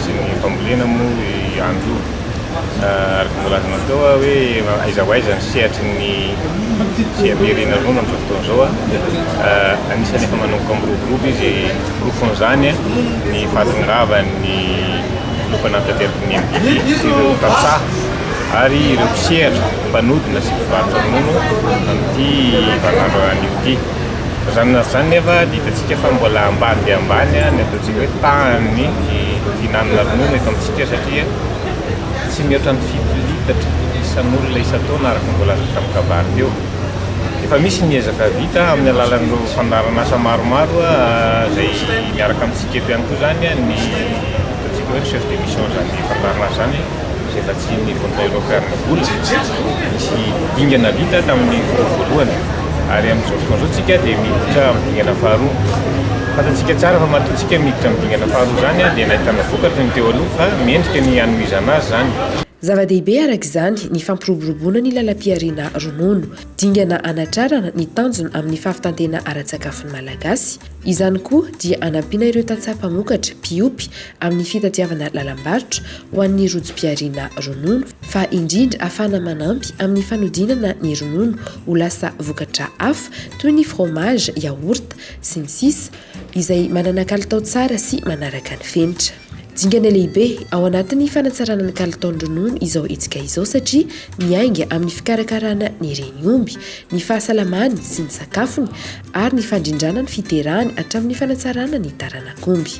Tsy ny fambolena moa ihany io. Araka ny voalazanao teo hoe aiza ho aiza ny sehatry ny fiaviariana ronono amin'izao fotoana izao. Anisan'ny efa manomboka miroborobo izy. Porofon'izany ny fahatongavan'ny filoha mpanatanteraka ny MDP sy ireo tantsaha ary ireo mpisehatra mpanodina sy mpivarotra ronono amin'ity vaninandro anio ity. Na izany na izany nefa dia hitantsika fa mbola ambany dia ambany ny ataontsika hoe tahan'ny fihinanana ronono eto amintsika satria tsy mihoatra ny fito litatra isan'olona isan-taona araka ny voalaza teo tamin'ny kabary teo. Efa misy ny ezaka vita amin'ny alalan'ireo fandaharan'asa maromaro izay miaraka amintsika eto ihany koa izany ny ataontsika hoe recherche de mission izany fandaharan'asa izany. izay vatsian'ny Voltairao Karl Gold, nisy dingana vita tamin'ny fotoana voalohany, ary amin'izao fotoana izao tsika dia miditra amin'ny dingana faharoa. Fantatsika tsara fa matoa tsika miditra amin'ny dingana faharoa izany dia nahitana vokatra ny teo aloha fa mendrika ny hanohizana azy izany. Zava-dehibe araka izany ny fampiroboroboana ny lalam-pihariana ronono. Dingana hanatrarana ny tanjona amin'ny fahavitan-tena ara-tsakafon'ny Malagasy. Izany koa dia hanampiana ireo tantsaha mpamokatra, mpiompy, amin'ny fitadiavana lalam-barotra ho an'ny rojom-pihariana ronono, fa indrindra hahafahana manampy amin'ny fanodinana ny ronono ho lasa vokatra hafa toy ny fromage, yaourt, sy ny sisa, izay manana kalitao tsara sy manaraka ny fenitra. Dingana lehibe ao anatin'ny fanatsarana ny kalitaon-dronono izao hetsika izao satria miainga amin'ny fikarakarana ny reny omby, ny fahasalamany sy ny sakafony ary ny fandrindrana ny fiterahany hatramin'ny fanatsarana ny taranak'omby.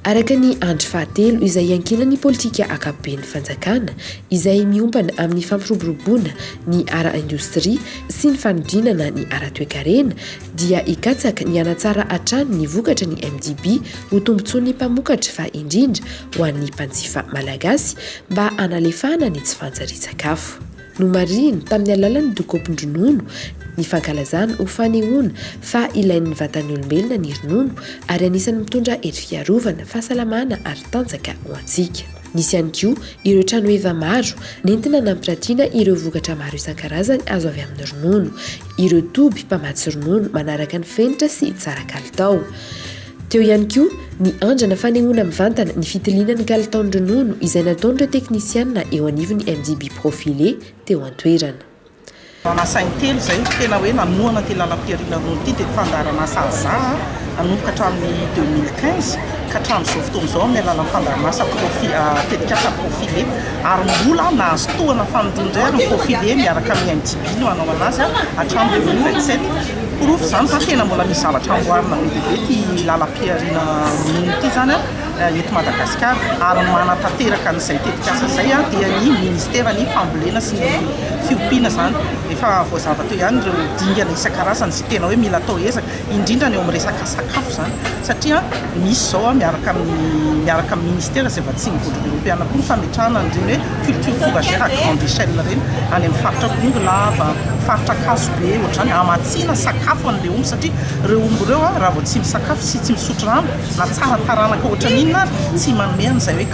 Araka ny andry fahatelo izay iankinan'ny politika ankapoben'ny fanjakana izay miompana amin'ny fampiroboroboana ny ara-indostria sy ny fanodinana ny ara-toekarena, dia hikatsaka ny hanatsara hatrany ny vokatry ny MDB ho tombontsoan'ny mpamokatra fa indrindra ho an'ny mpanjifa malagasy mba hanalefahana ny tsy fanjarian-tsakafo. Nomarihiny tamin'ny alalan'ny dokam-pindronono ny fankalazana ho fanehoana fa ilain'ny vatan'ny olombelona ny ronono ary anisan'ny mitondra hery fiarovana, fahasalamana ary tanjaka ho antsika. Nisy ihany koa ireo tranoheva maro nentina nampiratiana ireo vokatra maro isan-karazany azo avy amin'ny ronono, ireo toby mpamatsy ronono manaraka ny fenitra sy tsara kalitao. Teo ihany koa ny andrana fanehoana mivantana ny fitiliana ny kalitaon'ny ronono izay nataon'ireo teknisianina eo anivon'ny MDB Profilé teo an-toerana. Lasa in-telo izay tena hoe nanohana ity lalam-piharina roa ity dia ny fandaharan'asa AZA nanomboka hatramin'ny deux mille quinze ka hatramin'izao fotoana izao amin'ny alalan'ny fandaharan'asa profi- tetikasa Profile ary mbola nahazo tohana fanindroany indray ary ny Profile miaraka amin'ny MDB no hanao an'azy hatramin'ny deux mille vingt sept. Porofo izany fa tena mbola misy zavatra amboarina be dia be ity lalam-piharina ronono ity izany. eto Madagasikara ary manatanteraka an'izay tetikasa izay dia ny ministeran'ny fambolena sy ny fiompiana izany. Efa voazava teo ihany ireo dingana isan-karazany sy tena hoe mila atao ezaka, indrindra ny eo amin'ny resaka sakafo izany satria misy izao miaraka amin'ny miaraka amin'ny ministera izay vatsian'ny vondrona eoropeana koa ny fametrahana an'ireny hoe culture fourragère à grande échelle ireny any amin'ny faritra Bongolava, faritra Ankazobe, ohatr'izany, hamatsiana sakafo an'ilay omby satria ireo omby ireo raha vao tsy misakafo sy tsy misotro rano, Na tsara taranaka ohatran'ny inona ary, tsy manome an'izay hoe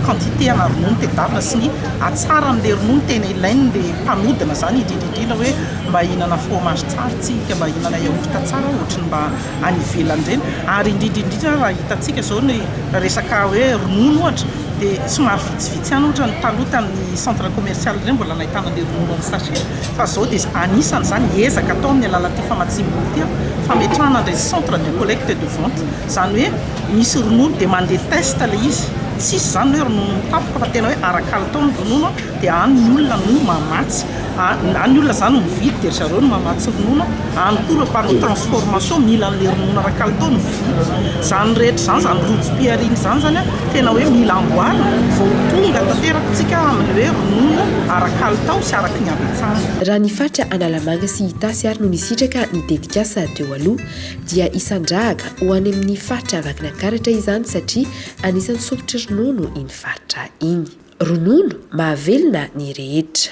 quantité ana ronono tedavina sy ny hatsaran'ilay ronono tena ilain'ilay mpanodina izany, indrindra indrindra hoe mba hihinana fromage tsara isika, mba hihinana yaourt tsara ohatry ny mba any ivelany ireny. Ary indrindra indrindra raha hitantsika izao ny resaka hoe ronono ohatra dia somary vitsivitsy ihany ohatra ny taloha tamin'ny centre commercial ireny mbola nahitana an'ilay ronono en sachet. Fa izao dia anisan' izany ezaka atao amin'ny alalan' ity famatsiam-bola ity fametrahana an'ilay centre de collecte et de vente. Izany hoe misy ronono dia mandeha test ilay izy. Tsy hisy izany ny hoe ronono tampoka fa tena hoe ara-kalitao ny ronono dia any ny olona no mamatsy. Any ny olona izany no mividy dia ry zareo no mamatsy ronono. Any koa ireo mpanao transformation mila an'le ronono ara kalitao no vidy. Zany rehetra zany, zany rojo piaring zany zany an, tena hoe mila amboarina vao ho tonga tanteraka tsika amin'ny hoe ronono ara kalitao sy araky ny habetsahana. Raha ny faritra Analamanga sy Itasy ary no nisitraka ny tetikasa teo aloha dia isan-drahaka ho any amin'ny faritra Vakinankaratra izany satria anisan'ny sompitry ronono iny faritra iny. Ronono mahavelona ny rehetra.